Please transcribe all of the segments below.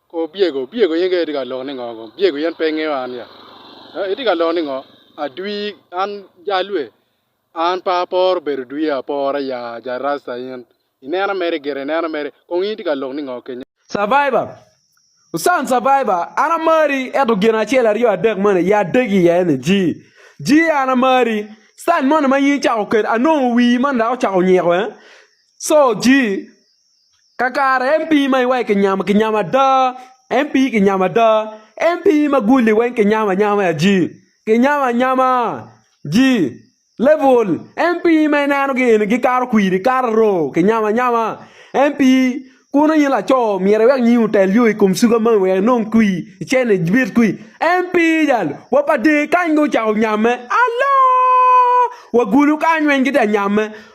Kor byego, byego yenge itye ka loko ni ngo kong? Byego yen pe ingeyo an ya? Ee itye ka loko ni ngo? Adwi an jalwe an pe aporo bedo dwi apora ya ja rasta in inena mere gire inena mere kong in itye ka lok ni ngo kenyo. Survivor, Usan Survivor an amari ento gin acel aryo adek moni ya adegi iye ni ji, ji an amari style moni ma in icako kede anongo wii moni dok ocako nyiko eh so ji. Kakare MP ma iwaco kinyamo kinyamo ada MP kinyamo ada MP ma guli weng kinyamo anyama ji kinyamo anyama ji level MP ma ineno gi eni gikato kwiri kato roo kinyamo anyama MP kono in laco myero iwek nyingi otel yo ikom suga moni wek inong kwi icene ibit kwi MP jalo wa pa dee kany dong ocako nyamme aloo wagulu kany weng gitye ka nyamme.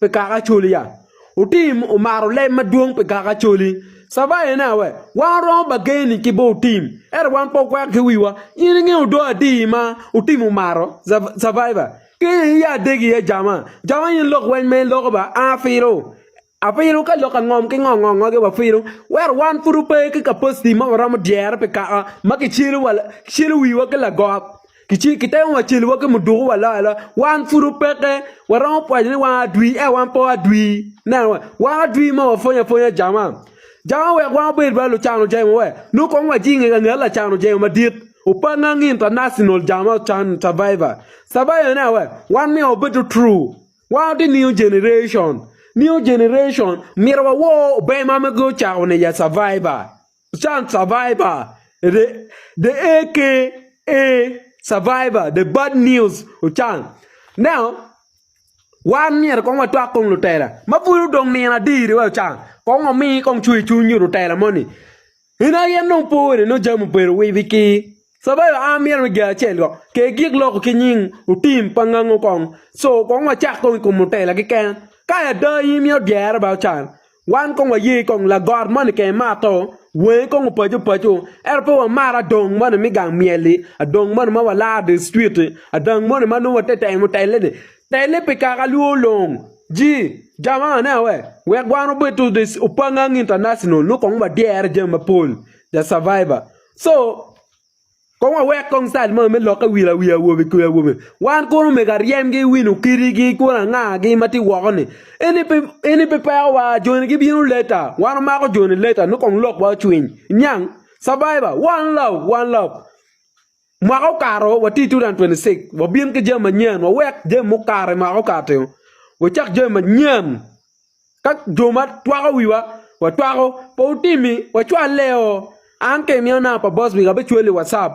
pi kaka acoli ya? Otim omaro leb madwong pi kaka acoli. Caba en awe, wan oromo bageni ki bo otim, ento wan pe okwek ki wiwa. In ingeyo do adi ma otim omaro? Caba, ki i iya adegi iye jama. Jama in lok weny ma in loko ba, an afilo. Afilo ka lok angom ki ngo ngo ngogi wafilo, wero wan pud wape ki kapaciti ma waromo dyere pi kaka ma kicelo wiwa ki lagok. Kitemo wa celo wa ki muduku wa loyo aloya, wan pud opeke. Waromo pwoc ni wan adwi ento wan pe wadwi. Ineno wa, wan adwi ma wapwony apwonya jama. Jama oweko wan wabed bala lucano jemo we nongo kong wajing i ka nget lacano jemo madit. Opangngang International jama ocan Survivor. Survivor ineno we, wan myero wabedo true. Wan watye new generation. New generation myero wawor ober ma mege ocako ni ya Survivor. Sun Survivor, The AKA Survivor, The Bad News Ochan. Now, wan myero kong watwak kong lutela ma pud odong nino adir wa Ochan. Kong wami kong cwer cwiny nyo lutela moni. In aye nong po wene nong jami obedo wibi ki. Sabayo a myero me Jacel go ke gik loko ki nying otim pa ngango kong so kong wa cak kong ikom mutela ki ken ka ya da i myero dyere ba ocan wan kong wa ye kong la got moni ke mato wenge kong opaco paco ento pe wa maro adong moni me gang myel li adong moni ma wa laro di street ti adang moni ma nongo wa te temo tele ni tele pi kaka lwor long ji jama ne awe wek wan obedo di opa ngang international nongo kong wa dyere jami mapol the survivor Co. Kong wawek kong cal moni me lokke wil awi awobe ki awobe. Wan kuro omego aryemgi, wino kitigi, kwon angagi ma tye woko-ni. Eni pe, eni pe pekowa. Joni gibino later. Wan wamako joni later nongo kong lokwa ocwiny. Iniang? Survivor, one love, one love. Mwaka okato, watye i 2026, wabin ki jami manyen, wawek jami mukato i mwaka okati-o, wacak jami manyen. Ka jo ma twako wiwa watwako pe otimi wacwalle o an ka iniana pa boss wing abicwali i watcap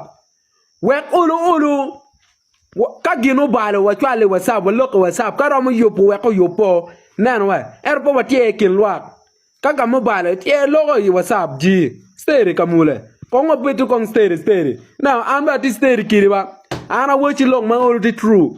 wek olu olu ka gin obalo wacwale i watcap walok i watcap ka romo yubo wek oyub o ineno wa ento pe watyer i kin lwak ka ka ma obalo ityer iloko i watcap jii ceri kamule kong wabedo kong ceri ceri ineno an bene atye ceri kedi ba an awaci lok ma olo tye true.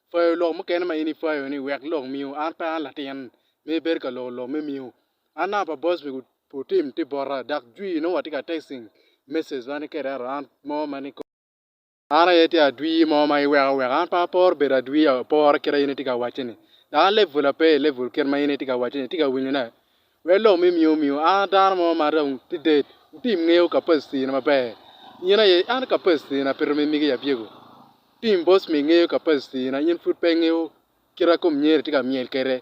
Pwayo lok mukene ma in ipwayo-ni wek lok miu. An pe an latin ma ibedo ka loko lok me miu. An naka pa boss me gudo tim tye bota dok jwii nongo watye ka texting message ma ni kede ento an mo ma ni kong. An aye tye adwii mo ma iweko aweka. An pe aporo bedo adwii apora kit ma in itye ka wacce-ni. Dok an level ape i level kit ma in itye ka wacce-ni. Itye ka winyo ne? Wek lok me miyo omiwa, an dano mo ma dong tye dead, wutim ngeyo capacity na maber. In aye, an capacity na peto me migi abyego. Tim boss me ngeyo capacity na in pud pe ingeyo kite kom nyeri tye ka myel kwede.